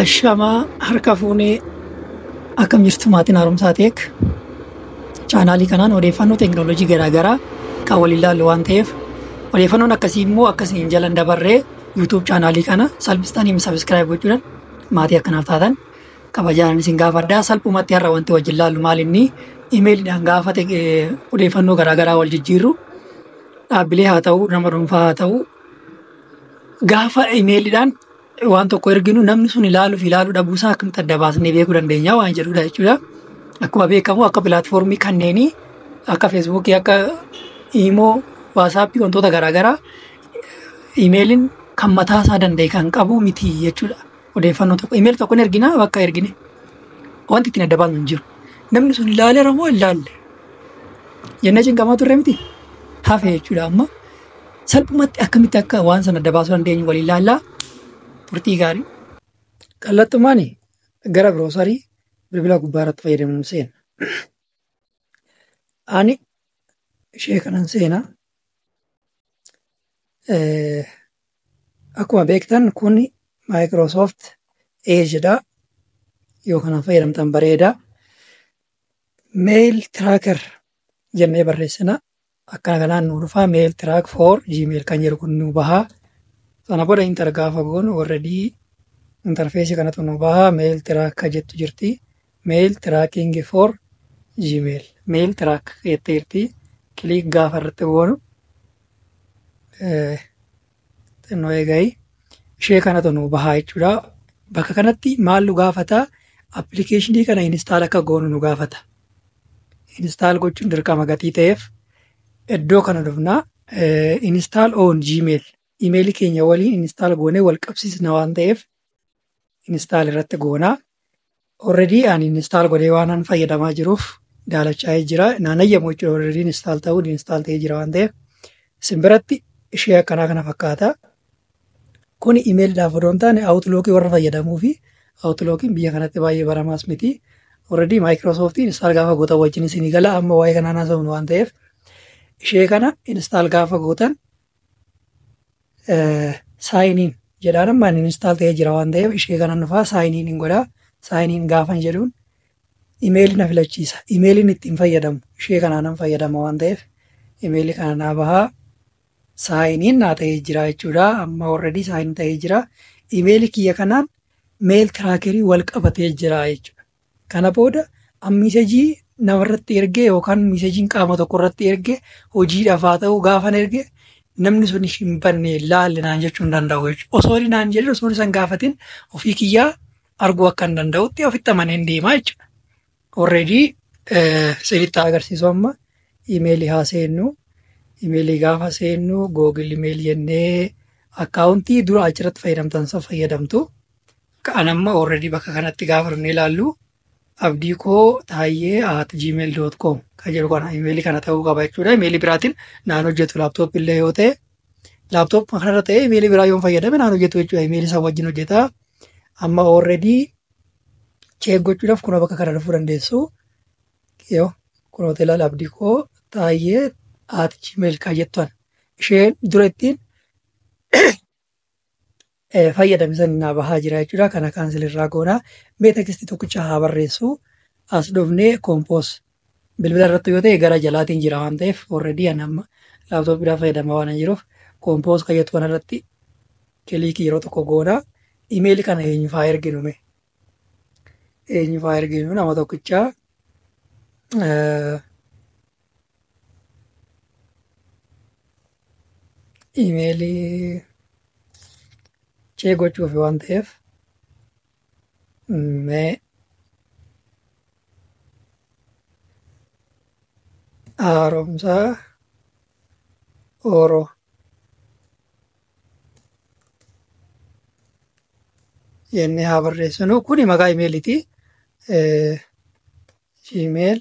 Ashamaa harka fuunee akkam jirtu maatiin haaromsaa teek chaanaalii kanaan odeeffannoo teekinooloojii garaagaraa kan wal ilaallu waan ta'eef odeeffannoon akkasii immoo akkasii hin jalan dabarree yuutuub chaanaalii kana salphistanii sabiskiraayib gochuudhaan maatii akkanaaf taatan kabajaan isin gaafadhaa salphumatti har'a wanti wajjin laallu maal inni imeeliidhaan gaafa odeeffannoo garaagaraa wal jijjiirru dhaabbilee haa ta'u nama dhuunfaa haa ta'u gaafa imeeliidhaan waan tokko erginu namni sun ilaaluu fi ilaaluu dhabuu isaa akkamitti adda baasnee beekuu dandeenya waan jedhudha jechuudha. Akkuma beekamu akka pilaatfoormii kanneenii akka feesbuukii akka iimoo waasaappii wantoota garaagaraa imeeliin kan mataa isaa danda'e kan qabu miti jechuudha. Odeeffannoo tokko imeeli tokko hin ergina bakka ergine wanti ittiin adda baasnu hin jiru. Namni sun ilaaleera moo hin ilaalle jennee cinqamaa turre miti hafe jechuudha amma. Salphumatti akkamitti akka waan sana adda baasuu dandeenyu waliin ilaallaa turtii gaarii. Kallattumaan gara biroosarii bilbila gubbaa irratti fayyadamuun seena. Ani ishee kanan seena. Akkuma beektan kun Microsoft Edge dha. Yoo kanaan fayyadamtan bareeda. Mail tracker jennee barreessina. akkana kanaan nu dhufaa mail track for gmail kan jedhu kun nu bahaa sana booda intar gaafa goonu already interfeesii kanatu nu bahaa mail track ka jettu jirti mail tracking for gmail mail track jettee jirti kiliik gaafa irratti goonu Xinnoo eegayi. Ishee kanatu nu bahaa jechuudha. Bakka kanatti maal nu gaafata? Appilikeeshinii kana instaal akka goonu nu gaafata. Instaal gochuun dirqama gatii ta'eef iddoo kana dhufna. Instaal on Gmail. Imeelii keenya waliin instaal goonee wal qabsiisna waan ta'eef instaal irratti goona. Already ani install godhee waanan fayyadamaa jiruuf daalachaa'ee jira. Naan ayyamu jechuudha already install ta'uun install ta'ee jira waan ta'eef. Isin biratti ishee akkanaa kana fakkaata. Kuni imeelidhaaf odoo hin taane outlookii warra fayyadamuu fi outlookii biyya kanatti baay'ee baramaas miti. Already Microsoft install gaafa gootan wajjin isinii gala amma waa'ee kanaa naasofnu waan ta'eef ishee kana install gaafa gootan saayiniin jedhaan amma inni instaal ta'ee jira waan ta'eef ishee kanan dhufaa saayiniin hin godhaa saayiniin gaafan jedhuun imeelii na filachiisa imeeliin ittiin fayyadamu ishee kanaanan fayyadama waan ta'eef imeelii kana naa bahaa saayiniin naa ta'ee jira jechuudha amma warradii saayiniin ta'ee jira imeelii kiyya kanaan meel tiraakerii wal qabatee jira jechuudha Kana booda an miisejii namarratti erge yookaan miisejiin qaama tokko irratti erge hojiidhaaf haa ta'u gaafan erge namni sun hin banne laalle naan jechuu hin danda'u jechuudha. Osoo inni naan jedhin osoo isan gaafatin ofii kiyyaa arguu akka hin danda'utti ofitti amaneen deemaa jechuudha. Already sirriitti agarsiisu amma imeelii haa seennu. Imeelii gaafa seennu googil imeelii jennee akkaawuntii dura achirratti fayyadamtan san fayyadamtu. Kan amma already bakka kanatti gaafa dhufnee ilaallu abdii koo taayyee at gmail dot com kan jedhu kana imeelii kana ta'uu qaba jechuudha. Imeelii biraatiin naan hojjetu laaptoop illee yoo ta'e laaptoop kanarra ta'e imeelii biraa yoo fayyadame naan hojjetu jechuudha. Imeelii isaa wajjin hojjeta. Amma already cheek gochuudhaaf kunoo bakka kana dhufuu dandeessu. Yoo kun hoteela abdii koo taayyee at gmail kan jettu isheen dura ittiin fayyadame san naa bahaa jira jechuudha. Kana kaansel irraa goona. Mee tekisti tokkicha haa barreessu. As dhufnee kompoos bilbila irratti yoo ta'e gara jalaatiin jira waan ta'eef already ani amma laaptooppiidhaan fayyadamaa waan hin jiruuf kompoos kayyatu kana irratti kiliikii yeroo tokko goona. Imeeli kana eenyuuf haa erginu mee? Eenyuuf haa erginu nama tokkicha. imeelii cee gochuuf waan ta'eef mee haaromsaa oro jennee haa barreessinu kuni maqaa imeeliiti gmail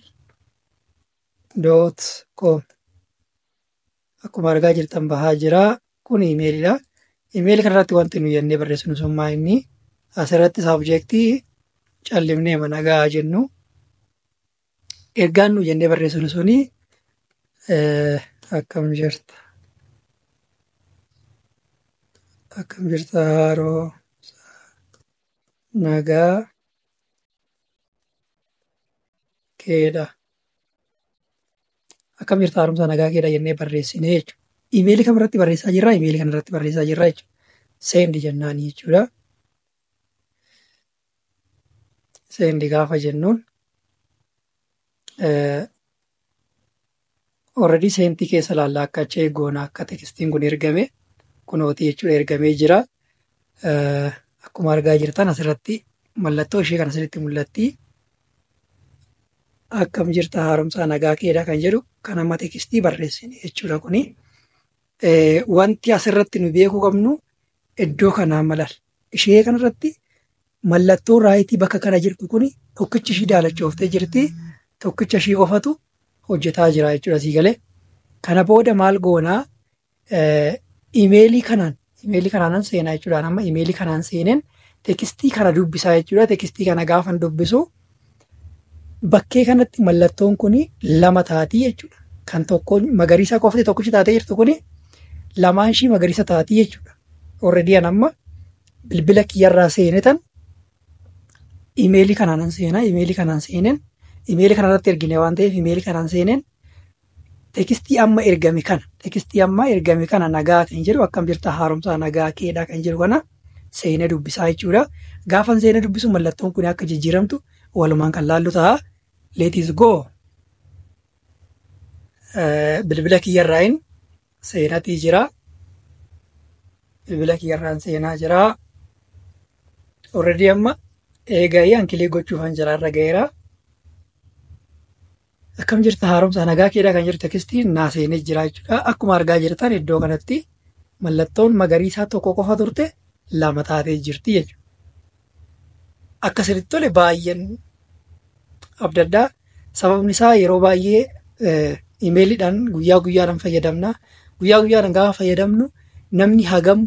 doot koom akkuma argaa jirtan bahaa jira kun imeelidha imeeli kanarratti wanti nu jennee barreessinu summaa inni asirratti saabjektii callimnee mana gahaa jennu ergaan nu jennee barreessinu suni akkam jirta akkam jirta haaroo nagaa keedha. Akkam jirta haaromsa nagaa keedha jennee barreessine jechuudha. Imeelii kam irratti barreessaa jirra? Imeelii kana irratti barreessaa jirra jechuudha. Seendi jennaan jechuudha. Seendi gaafa jennuun Already seenti keessa laallaa akka chee goona akka tekstiin kun ergame kunooti jechuudha ergamee jira. Akkuma argaa jirtan asirratti mallattoo ishee kan asirratti mul'atti. Akkam jirta haaromsaa nagaa keedha kan jedhu kan amma tekstii barreessine jechuudha kuni. Wanti asirratti nu beekuu qabnu Iddoo kanaa malal. Ishee kanarratti mallattoo raayitii bakka kana jirtu kun tokkichi ishii daalachooftee jirti. Tokkicha ishii qofatu hojjetaa jira jechuudha sii galee. Kana booda maal goonaa imeelii kanaan imeelii kanaanan seenaa jechuudha. Amma imeelii kanaan seeneen tekstii kana dubbisaa jechuudha. Tekstii kana gaafan dubbisu Bakkee kanatti mallattoon kun lama taatii jechuudha. Kan tokko magariisa qofti tokkichi taatee jirtu kun lamaan ishii magariisa taatii jechuudha. Already an amma bilbila kiyyarraa seene tan imeelii kanaan seenaa imeelii kanaan seeneen imeelii kanarratti ergine waan ta'eef imeelii kanaan seeneen Tekstii amma ergame kana tekstii amma ergame kana nagaa kan jedhu akkam jirta haaromsaa nagaa keedhaa kan jedhu kana seenee dubbisaa jechuudha. Gaafan seenee dubbisu mallattoon kun akka jijjiiramtu walumaan kan laallu ta'a. Let is go. Bilbila kiyyarraayin seenatii jira. Bilbila kiyyarraan seenaa jira. Already amma eega'ee ankilee gochuufan jira irra ga'eera. Akkam jirta haaromsaa nagaa keedhaa kan jirtu tekstiin naa seenee jira jechuudha. Akkuma argaa jirtan iddoo kanatti mallattoon magariisaa tokko qofa turte lama taatee jirti jechuudha. Akka sirriitti tole baay'een abdadhaa. Sababni isaa yeroo baay'ee imeeliidhaan guyyaa guyyaadhaan fayyadamna. Guyyaa guyyaadhaan gaafa fayyadamnu namni hagam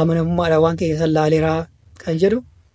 amanamummaadhaan waan keessa laaleeraa kan jedhu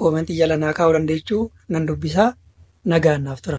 Comment jala naa kaa'uu dandeechu nan dubbisa nagaan naaf tura.